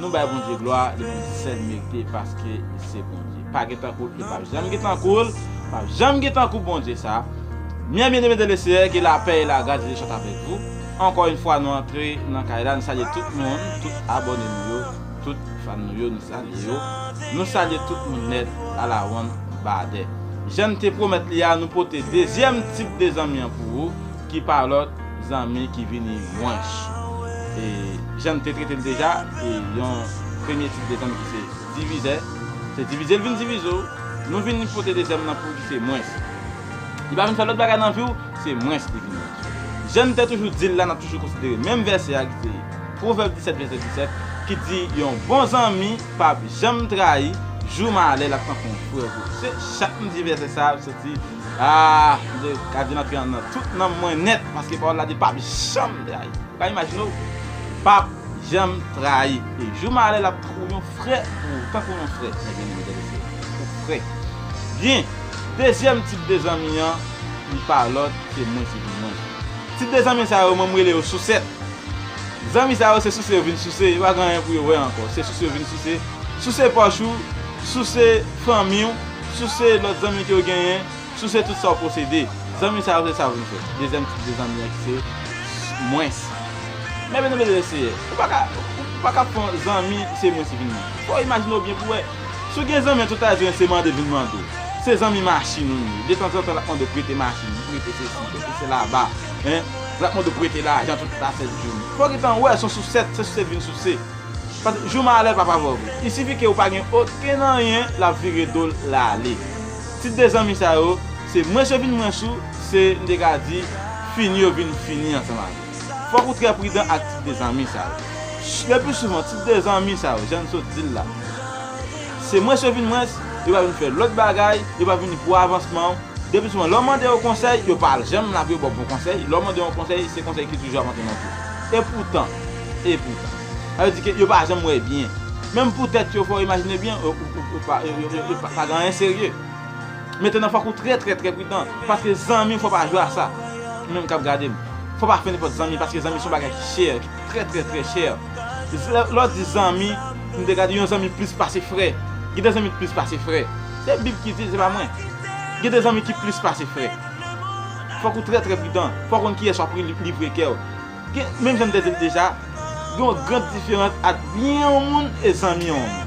Nou bay Bondye glwa li menm sèl merite paske li se Bondye pa gen tankoul e pap janm gen tankoul pap janm gen tankou Bondye sa Mien bien aimé dans le Seigneur ke la pè e la gras de Dieu soit avec vous ankò yn fwa nou antre nan kay la nou salye tout moun tout abòne nou yo tout fan nou yo nou salye yo nou salye tout moun nèt ala wonn badè jann te pwomèt li a nou pote dezyèm tip de zanmi an pou ou. ki pa lòt zanmi ki vini mwench e jan n te trete l deja e yon premye tip de zanmi ki se divizè se divize l vin divize w nou vin pote dezyèm nan pou w ki se mwens li pa vin fè lòt bagay nan vi w se mwens li vin mwens jan n te toujou di l la n ap toujou konsidere menm vèsè a ki se pwovèb 17 vèsè 17 ki di yon bon zanmi p ap janm trayi jou malè l ap tankou yon frè pou ou se chak n di vèsè sa a l soti. Aah Bondye ka vin antre nan tout nanm mwen nèt paske pawòl la di pap janm trayi ou ka imajine w pap janm trayi e jou malè lap tankou yon frè pou ou tankou yon frè mwen byeneme frè e sè ou frè byen dezyèm tip de zanmi an li pa lòt ke mwen se pou mwen tip de zanmi sa yo mwen mrele yo sousèt zanmi sa yo se souse yo vin souse yo pa gen anyen pou yo wè ankò se souse yo vin souse souse pòch ou souse fanmi w. Souse lòt zanmi ke w genyen, souse tout sa w posede. Zanmi sa yo se sa vin fè. Dezyèm tip de zanmi an ki se mwens. Men byen anmède le Seyè, ou pa ka, ou pa ka fon zanmi ki se mwens ki vin mwens. Fò w imajine w byen pou w wè. Si w gen zanmi an tout a di w yon se mande vin mande w. Se zanmi machin ou ye. Detanzantan l ap mande w prete machin, prete sesi, prete sela ba, hein. L ap mande w prete lajan tout la sèt jounen. Fò w gen tan wè son sousèt, se sousèt vin souse. Paske jou malè pa favò vre. I sifi ke ou pa gen okenn anyen l ap vire do l lale. Tit 2 zanmi sa yo, se mwens yo vin mwens ou, se, m te ka di, fini yo vin fini ansanm avè w. Fòk ou trè pridan ak tit 2 zanmi sa yo. Lepli souvan, tit 2 zanmi sa yo, jan n sot di l la, se mwens yo vin mwens, yo pa vin fè lòt bagay, yo pa vini pou avansman w. Lepli souvan, lè w mande yo konsèy, yo pa janm la pou yo ba w bon konsèy. Lè w mande yo konsèy, se konsèy ki toujou ap antre nan twou. Epoutan, E poutan. Sa vle di ke yo pa janm wè byen. Menm pou tèt yo, fò w imajine byen, yo pa gen anyen serye. Metenan fòk ou trè trè trè pridan. Paske zanmi fò w pa jwe a sa. Ou menm k ap gade m. Fò w pa fè nenpòt zanmi paske zanmi se yon bagay ki chè, ki trè trè trè chè. Lè w di zanmi, m te gade yon zanmi plis pase frè. Gen de zanmi ki plis pase frè. Se bib ki di l, se pa mwen. Gen de zanmi ki plis pase frè. Fòk ou trè trè pridan. Fò w konn kiyès w ap livre kè w. Gen, menm jan m te di l deja, gen yon gran diferans ant byen yon moun e zanmi yon moun.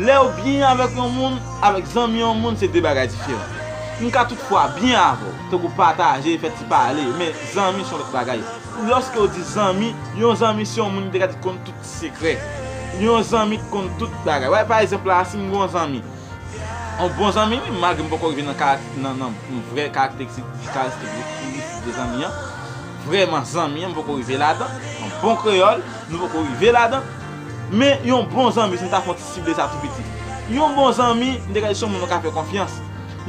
Lè ou byen avèk yon moun, avèk zanmi yon moun se de bagay diferan. M ka tout fwa byen avè w, tankou pataje, fè ti pale, men zanmi s yon lòt bagay. Lòske ou di zanmi, yon zanmi se yon moun m te ka di ki konn tout sekrè. Yon zanmi ki konn tout bagay. Wè, pa egzanp la, si m gen yon zanmi, yon bon zanmi, malgre m poko rive nan vrè karakteristik de zanmi an, Vrèman zanmi an m poko rive ladan, yon bon kreyòl nou poko rive ladan, men yon bon zanmi si nou ta fè yon ti sible sa tou piti. Yon bon zanmi m te gade si son moun ou ka fè konfyans.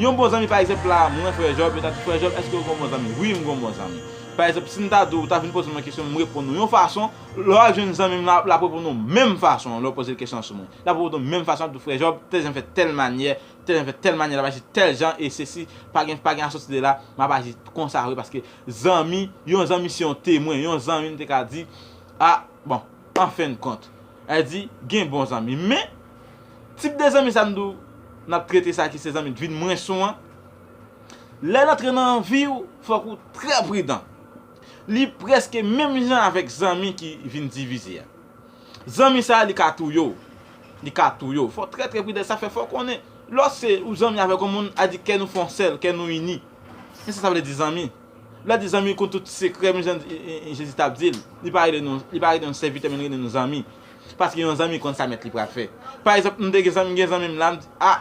Yon bon zanmi pa egzanp la mwen frè Jòb, yo ta di frè Jòb èske ou gen yon bon zanmi? Wi m gen yon bon zanmi. Pa egzanp si m ta di w ou ta vin poze mwen kesyon m reponn ou yon fason, lè w al jwenn zanmi m lan l ap reponn ou menm fason lè w poze l kesyon an sou mwen. L ap reponn ou menm fason l ap di w frè Jòb tèl jan fè tèl manyè, tèl jan fè tèl manyè l ap aji tèl jan e sesi pa gen asòti de la m ap aji konsa vre paske Zanmi, yon zanmi se yon temwen, yon zanmi m te ka di, a, bon, an fen kont, e di, gen bon zanmi. Men, tip de zanmi sa m di w, n ap trete sa ki se zanmi k vin mwens ou an, lè l antre nan vi w, fòk ou trè pridan. Li prèske menm jan avèk zanmi ki vin divize a. Zanmi sa a li ka touye w, li ka touye w. Fò w trè trè pridan, sa fè fò w konnen, lò se ou zanmi avèk yon moun, a di kè nou fon sèl, kè nou ini. Kisa sa vle di zanmi? Bib la di zanmi konn tout sekrè menm jan Jezi t ap di l. Li pa rele nou yon sèvitè men li rele nou zanmi. Paske yon zanmi konn sa mèt li pral fè. Pa egzanp m te gen zanmi m gen zanmi m la m di a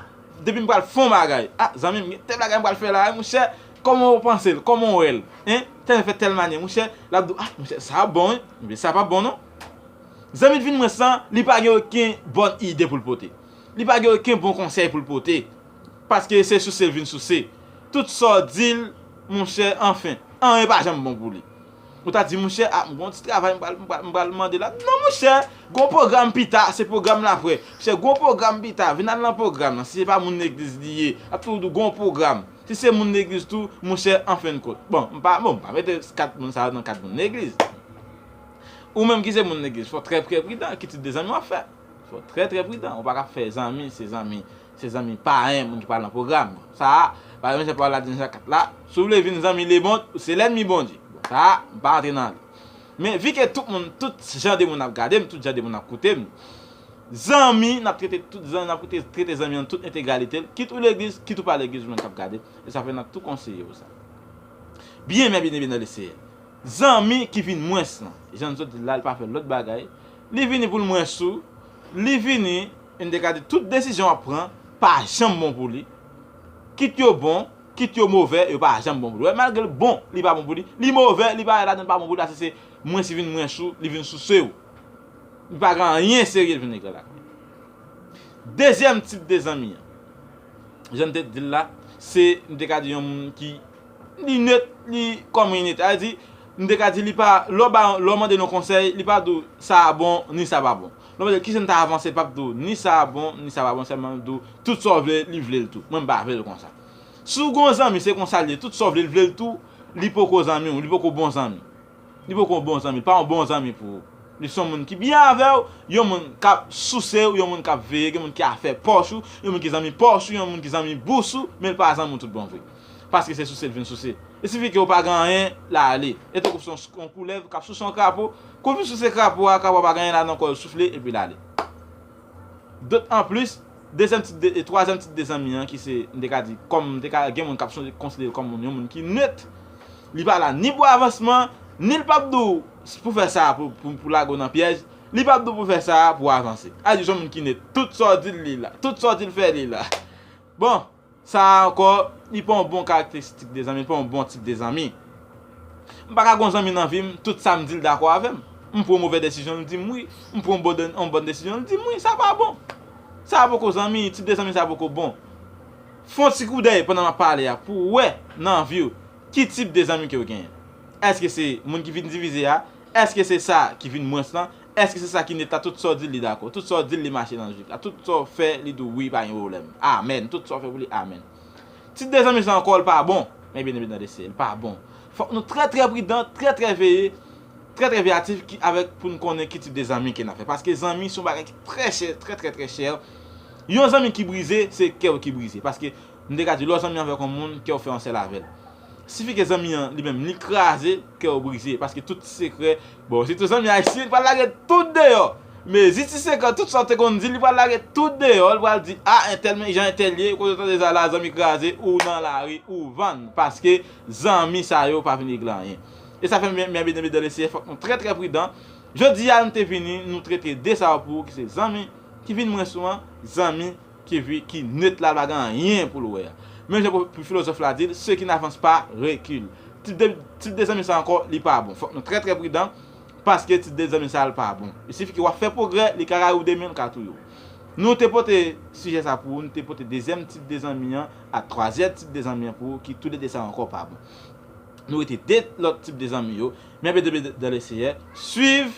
depi m pral fon bagay a zanmi m gen tèl bagay m pral fè la a monchè kòman ou panse l kòman ou wè l hein fè n fè tèl manyè monchè l ap di w a monchè sa ap bon wi ebyen sa p ap bon non. Zanmi t vin mwen san li pa gen oken bòn ide pou l pote. Li pa gen oken bon konsèy pou l pote. Paske se souse vin souse. Tout sa w di l, monchè, anfen. Anyen pa janm bon pou li. Ou ta di, monchè, a, m gen yon ti travay m pral, m pral mande la. Non, monchè! Gen yon pwogram pita, se pwogram la apre. Monchè, gen yon pwogram pita, vin al nan pwogram lan. Si se pa moun legliz li ye, l ap toujou di w, gen yon pwogram. Si se moun legliz tou, monchè, anfennkont. Bon, m pa, bon, m pa mete kat moun sa yo nan kad moun legliz. Ou menm ki se moun legliz, fò w trè, trè pridan. Ki tip de zanmi w ap fè? Fò w trè, trè pridan. Ou pa ka ap fè zanmi, se zanmi. Se zanmi payen moun ki pa lan pwogram sa a. Pa gen menm jan pawòl la di nan Jakat la, Si w vle vin zanmi Lemond, ou se lènmi Bondye. Bon, sa a, m pa antre nan li. Men, vi ke tout moun, tout jan de moun ap gade m, tout jan de moun ap koute m, zanmi, n ap trete tout zanmi, n ap trete zanmi an nan tout entegralite l, kit ou legliz, kit ou pa legliz ou menm k ap gade m, e sa fè n ap tou konseye w sa. Byen men byeneme nan Leseyè. Zanmi ki vin mwens lan, jan n sot di l la, li pa fè lòt bagay, li vini pou l mwens ou, li vini, N te ka di tout desizyon w ap pran pa janm bon pou li. Kit yo bon, kit yo move, yo pa janm bon pou li. Wè, malgre l bon, li pa bon pou li. Li move, li parèt ladan l pa bon pou li paske se mwens li vin mwens ou, li vin souse ou. Li pa gen anyen serye li vin egre l ak li. Dezyèm tip de zanmi an, jan n te di l la, se n te ka di yon moun ki li nöt, li kòm li nöt. Sa vle di, n te ka di li pa, lè w ba yon, lè w mande l yon konsèy, li pa di w sa a bon ni sa a pa bon. Non paske kijan m ta avanse pap di w ni sa bon ni sa pa bon sèlman l di w tout sa w vle li vle l tou mwen m pa vle l konsa si w gen yon zanmi se konsa l ye tout sa w vle l vle l tou li poko zanmi w li poko bon zanmi li poko yon bon zanmi l pa yon bon zanmi pou ou li son moun ki byen avè w yon moun k ap souse w yon moun k ap veye gen moun ki afè pòch ou yon moun ki zanmi pòch ou yon moun ki zanmi bous ou men l pa zanmi w tout bon vre paske se souse l vin souse e sifi ke w pa gen anyen l ale e tankou w se yon koulèv k ap souse yon krapo Kou misye se krapo a, krapo a pa gen anyen la nan kò l soufle epi l ale. Dot an plis, dezyèm tip de e twazyèm tip de zanmi an ki se m te ka di kòm m te ka gen moun k ap sonje konsidere l kòm moun yon moun ki nèt, li pa la ni pou avansman, ni l p ap di w s pou fè sa pou pou lage w nan pyèj, li p ap di w pou fè sa pou w avanse. A di w s on moun ki nèt, tout sa w di l li la, tout sa w di l fè li la. Bon! Sa a ankò, li pa yon bon karakteristik de zanmi, li pa yon bon tip de zanmi. M pa ka gen yon zanmi nan vi m, tout sa m di l dakò avè m. M pran yon movè desizyon, l di m wi. M pran yon bòn desizyon, l di m wi. Sa pa bon. Sa a poko zanmi, tip de zanmi sa a poko bon. Fè yon ti koudèy pandan m ap pale a pou w wè nan vi w ki tip de zanmi ke w genyen. Èske se moun ki vin divize a? Èske se sa ki vin mwens lan? Eske se sa ki net la tout sa w dil li dakò tout sa w dil li mache nan lojik la tout sa w fè li di w wi pa gen pwoblèm amen tout sa w fè pou li amen ti dezanmi sa ankò l pa bon men byen eme nan de se l pa bon fòk nou trè trè pridan trè trè veye trè trè veyatif ki avèk pou n konnen ki tip de zanmi ke n ap fè paske zanmi son bagay ki trè chè trè trè trè chè yon zanmi ki brize se kè w ki brize paske m te ka di lè w zanmi avèk yon moun kè w fè yon sèl avè l. Sifi ke zanmi an li menm li kraze, kè w brize paske tout ti sekrè, bon sitou zanmi ayisyen li pral lage tout deyò, mezi ti sekrè tout sa w te konn di li pral lage tout deyò, li pral di a entèl men jan entèl ye, kote w tande sa la zanmi kraze ou nan lari ou vann paske zanmi sa yo pa vin regle anyen. E sa fè mwen byen byen dan le seyè fòk nou trè trè pridan, jodi a nou te vini nou trete de sa yo pou ou ki se zanmi ki vin mwen sou an, zanmi. Keve ki net la pa gen anyen pou l wè a. Menm jan pou filozòf la di l, ceux qui n'avancent pas reculent. Tit de zanmi sa ankò li pa bon. Fòk nou trè trè pridan paske tit de zanmi sa l pa bon. Il suffit ke w ap fè pwogrè, li ka rayi w demen, li ka touye w. Nou te pote sijè sa pou ou, nou te pote dezyèm tit de zanmi an ak twazyè tit de zanmi an pou ou ki tou de de sa ankò pa bon. Nou rete de lòt tip de zanmi yo, men bde bde dan le seyè, swiv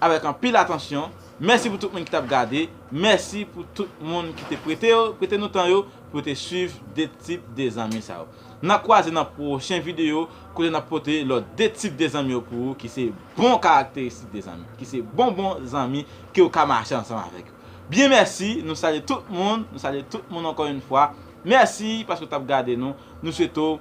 avèk anpil atansyon, mèsi pou tout moun ki tap gade, mèsi pou tout moun ki te prete yo, prete nou tan yo pou yo te swiv de tip de zanmi sa yo. Nan kwaze nan pwochen video kote nap pote lòt de tip de zanmi yo pou ou ki se bon karakteristik de zanmi, ki se bon bon zanmi ke ou ka mache ansanm avèk yo. Byen mèsi, nou salye tout moun, nou salye tout moun ankò yn fwa, mèsi paske ou tap gade nou, nou swete w.